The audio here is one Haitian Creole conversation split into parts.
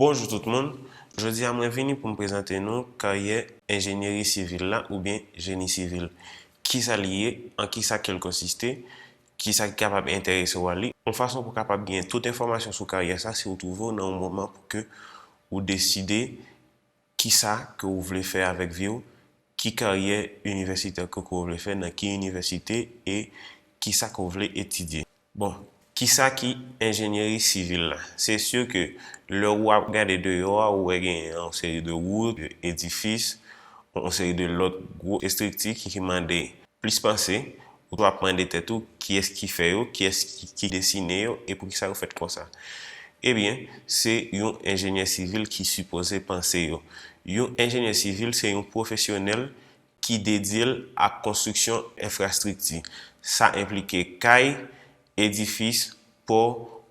Bonjou tout moun, jodi a mwen vini pou m prezante nou karyè enjenyeri sivil la oubyen jeni sivil. Kisa li ye, an kisa ke l konsiste, kisa ki kapab enterese w a li, yon fason pou w kapab gen tout enfòmasyon sou karyè sa si w twouve w nan yon moman pou ke ou deside Kisa ke ou vle fè avèk vi w? Ki karyè inivèsitè ke ke w vle fè? Nan ki inivèsite e kisa ke w vle etidye? Bon, kisa ki enjenyeri sivil la? Se si ke lè ou ap gade deyò a ou wè gen yon seri de wout, de edifis, yon seri de lòt gwo estrikti ki mande plis panse, Ou toujou ap mande tèt ou, kiyès ki fè yo, kiyès ki desine yo e poukisa yo fèt konsa? Ebyen, se yon enjenyè sivil ki sipoze panse yo. Yon enjenyè sivil se yon pwofesyonèl ki dedye l ak konstriksyon enfrastrikti. Sa enplike kay, edifis, pò,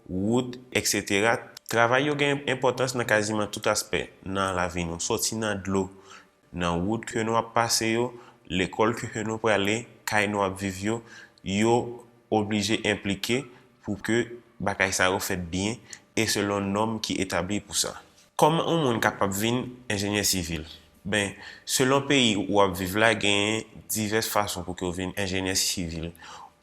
wout, eksetera. Travay yo gen enpòtans nan kaziman tout aspè nan lavi nou, soti nan dlo Nan wout ke nou ap pase yo, lekòl ke nou prale, kay nou ap viv yo, yo oblije enplike pou ke bagay sa yo fèt byen e selon nòm ki etabli pou sa. Kòman yon moun kapab vin enjenyè sivil? Ben, selon peyi ou ap viv la genyen divès fason pou ke ou vin enjenyè sivil.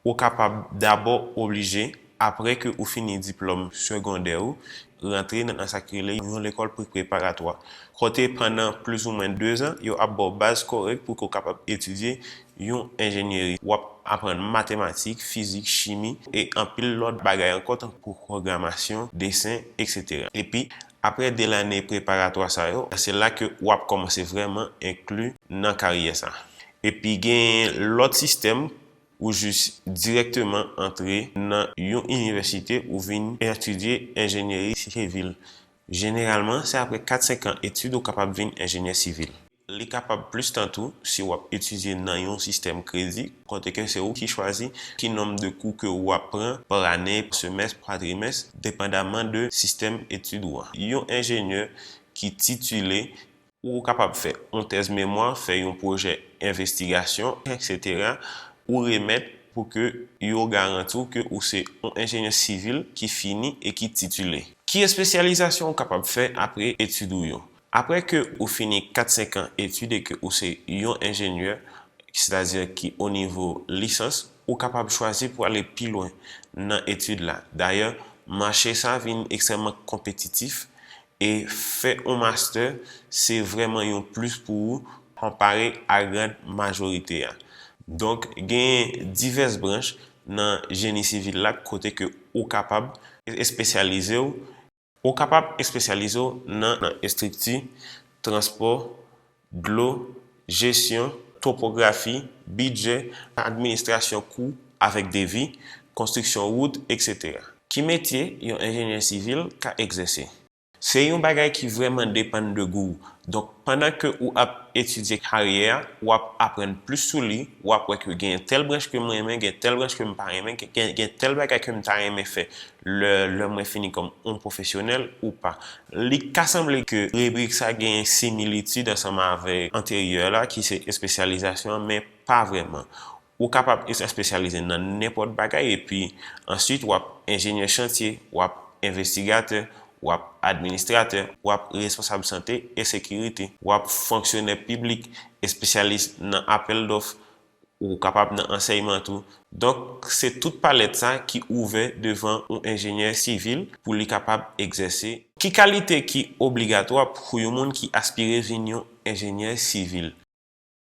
Ou kapab dabò oblije. Apre ke ou fini diplòm segondè ou, rantre nan sa ki rele yon lekòl pre-preparatwa, kote pandan plizoumwen dezan, yo ap ba w baz kòrèk pou ke w kapab etidye yon enjenyeri. W ap aprann matematik, fizik, chimi, e anpil lòt bagay ankò tankou pwogramasyon, desen, eksetera. Epi, apre de lane preparatwa sa yo, se la ke ou ap kòmanse vrèman enkli nan karyè sa. Epi genyen lòt sistèm Ou jis dirèkteman antre nan yon inivèsite ou vin etidye enjenyeri sivil. Jeneralman, se apre 4, 5 an etid ou kapab vin enjenyè sivil. Li kapab plis tan tou si w ap etidye nan yon sistèm kredi kote ke se ou ki chwazi ki nonb de kou ke ou ap pran pa ane, pa semès, pa trimès, depandaman de sistèm etid ou an. Yon enjenyè ki titile Ou kapab fè yon tèz memwa, fè yon pwojè envestigasyon, eksetera, ou remèt pou ke yo garanti w ke ou se yon enjenyè sivil ki fini e ki titile. Ki espesyalizasyon ou kapab fè apre etid ou yo? Apre ke ou fini kat-senk an etid e ke ou se yon enjenyè, sètadi ki o nivo lisans, ou kapab chwazi pou ale pi lwen nan etid la. Dayè, mache sa vin ekstrèmman konpetitif E fè on mastè se vrèman yon plis pou ou konpare a grand majorite a. Donk genyen divès branch nan jeni sivil la kote ke ou kapab espesyalize w. Ou kapab espesyalize w nan estrikti, transpò, dlo, jesyon, topografi, bidjè, administrasyon kou avèk devi, konstriksyon wout, etc. Ki metye yon enjenyè sivil ka egzèse? Se yon bagay ki vrèman depann de gou w, donk pandan ke ou ap etidye karyè a, ou ap aprann plis sou li, ou ap wè ke genyen tèl branch ke m renmen, gen tèl branch ke m pa renmen, gen tèl bagay ke m ta renmen fè Lè lè mwen fini kòm oun pwofesyonèl ou pa. Li ka sanble ke ribrik sa genyen similitid ansanm avèk anteryè la ki se espesyalizasyon an men pa vrèman. Ou kapab espesyalize nan nenpòt bagay epi answit wap enjenyè chantye, wap envestigatè, wap administratè, wap responsab sante e sekirite, wap fonksyonè piblik, espesyalis nan apèl dòf, Ou kapab nan ansèyman tou. Donk, se tout palèt sa ki ouvè devan yon enjenyè sivil pou li kapab egzèse. Ki kalite ki obligatwa pou yon moun ki aspire vin yon enjenyè sivil?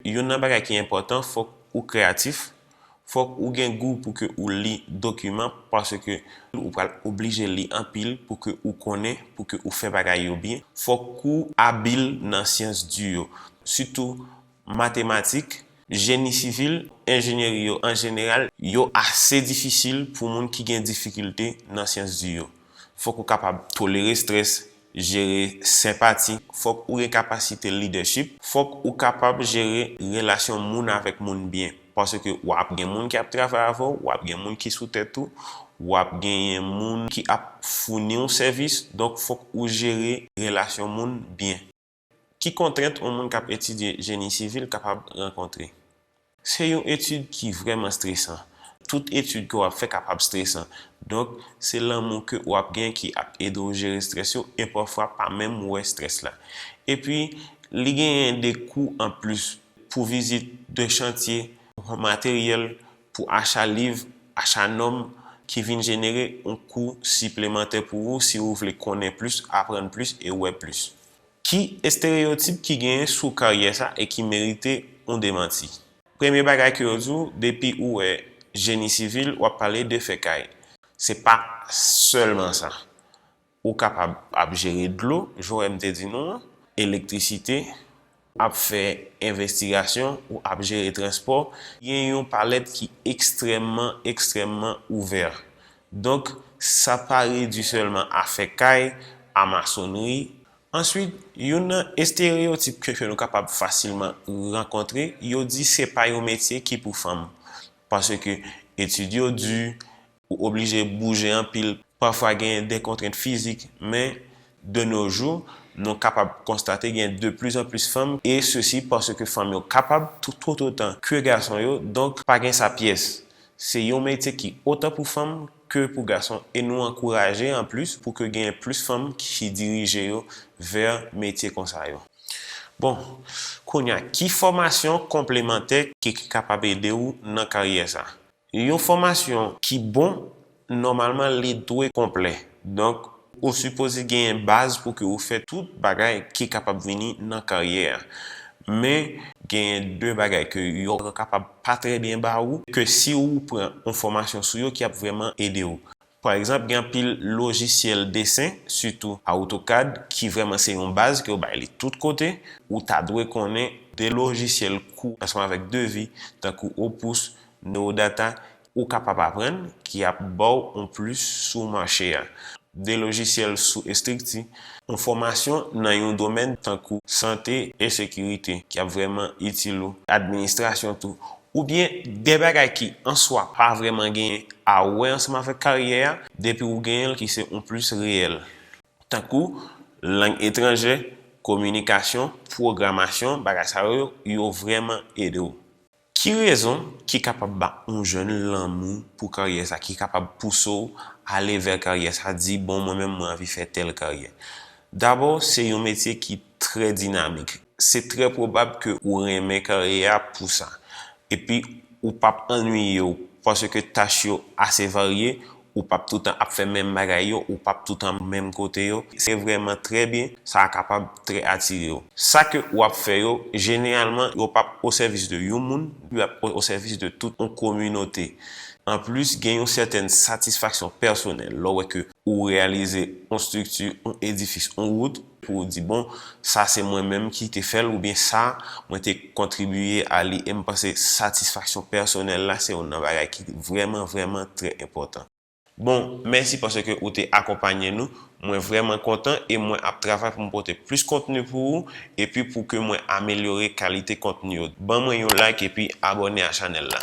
Youn nan bagay ki enpòtan, fòk ou kreyatif, fòk ou gen gou pou ke ou li dokiman paske ou pral oblije li anpil pou ke ou konnen, pou ke ou fè bagay yo byen. Fòk ou abil nan syans di yo, sitou Matematik, Jeni sivil, Enjenyeri yo an jeneral yo ase difisil pou moun ki gen difikilte nan syans di yo. Fòk ou kapab tolere strès, jere senpati, fòk ou gen kapasite lidèchip, fòk ou kapab jere relasyon moun avèk moun byen. Paske w ap gen moun ki ap travay avè w, w ap gen moun ki sou tèt ou, w ap genyen moun ki ap founi w sèvis, donk fòk ou jere relasyon moun byen. Ki kontrent yon moun k ap etidye jeni sivil kapab rankontre? Se yon etid ki vrèman stresan. Tout etid ke w ap fè kapab stresan. Donk, se lanmou ke ou ap gen ki ap ede w jere strès yo e pafwa pa menm wè strès la. Epi, li genyen de kou anplis pou vizit de chantye, pou materyèl, pou acha liv, acha nòm ki vin jenere yon kou siplemantè pou ou si ou vle konnen plis, aprann plis e wè plis. Ki estereyotip ki genyen sou karyè sa e ki merite yon demanti? Premye bagay ke yo di w, depi ou wè Jeni Sivil, w ap pale de fè kay. Se pa sèlman sa. Ou kapab ap jere dlo, jan m te di nou an, elektrisite, ap fè envestigasyon ou ap jere transpò, gen yon palèt ki ekstrèmman, ekstrèmman ouvè. Donk, sa pa redui sèlman a fè kay, a masonnri. Answit, youn nan estereyotip ke ke nou kapab fasilman rankontre, yo di se pa yon metye ki pou fanm. Paske etid yo di, Ou oblije bouje anpil. Pafwa gen de kontrent fizik, men de no jou, nou kapab konstate gen de plis an plis fanm, e sesi paske fanm yo kapab tout otan ke gason yo, donk pa gen sa pyès. Se yon metye ki otan pou fanm ke pou gason e nou ankouraje an plis pou ke gen plis fanm ki dirije yo vè metye konsa yo. Bon, kounya ki fòmasyon konplemantè ki kapab ede ou nan karyè sa a? Yon fòmasyon ki bon, nòmalman li dwe konplè. Donk, ou sipoze genyen baz pou ke ou fè tout bagay ki kapab vini nan karyè a. Men, genyen de bagay ke yo kapab pa trè byen ba ou, ke si ou pran yon fòmasyon sou yo ki ap vrèman ede ou. Pa egzanp, gen anpil lojisyèl desen, sitou AutoCAD, ki vrèman se yon baz ke yo bay li tout kote, ou ta dwe konnen de lojisyèl kou ansanm avèk devi tankou Opus, Neodata, ou kapab aprann ki ap ba w yon plis sou mache a, de lojisyèl sou estrikti, yon fòmasyon nan yon domèn tankou sante e sekirite ki ap vrèman itil ou, administrasyon tou, Oubyen de bagay ki an swa pa vrèman gen a wè ansanm avèk karyè a, depi ou genyen l ki se yon plis reyèl. Tankou, lang etranjè, kominikasyon, pwogramasyon, bagay sa yo, yo vrèman ede w. Ki rezon ki kapab ba yon jèn lanmou pou karyè sa, ki kapab pouse w ale vè karyè sa, di bon mwen menm mwen anvi fè tèl karyè? Dabò, se yon metye ki trè dinamik. Se trè pwobab ke ou renmen karyè a pou sa. Epi ou pap annwiye w paske tach yo ase varye, ou pap toutan ap fè menm bagay yo, ou pap toutan menm kote yo. Se vrèman trè byen, sa a kapab trè atire w. Sa ke ou ap fè yo, jeneralman yo pap osèvis de yon moun, yo ap osèvis de tout yon kominote. Anplis, gen yon sètèn satisfaksyon pèsonèl lè w wè ke ou reyalize yon strikti, yon edifis, yon wout. Pou ou di, Bon, sa se mwen menm ki te fè l oubyen sa, mwen te kontribiye a li. E m panse satisfaksyon pèsonèl la se youn nan bagay ki vrèman, vrèman trè enpòtan. Bon, mèsi paske ou te akonpanye nou. Mwen vrèman kontan e mwen ap travay pou m pote plis kontni pou ou epi pou ke mwen amelyore kalite kontni yo. Ban mwen yon like epi abòne a chanèl la.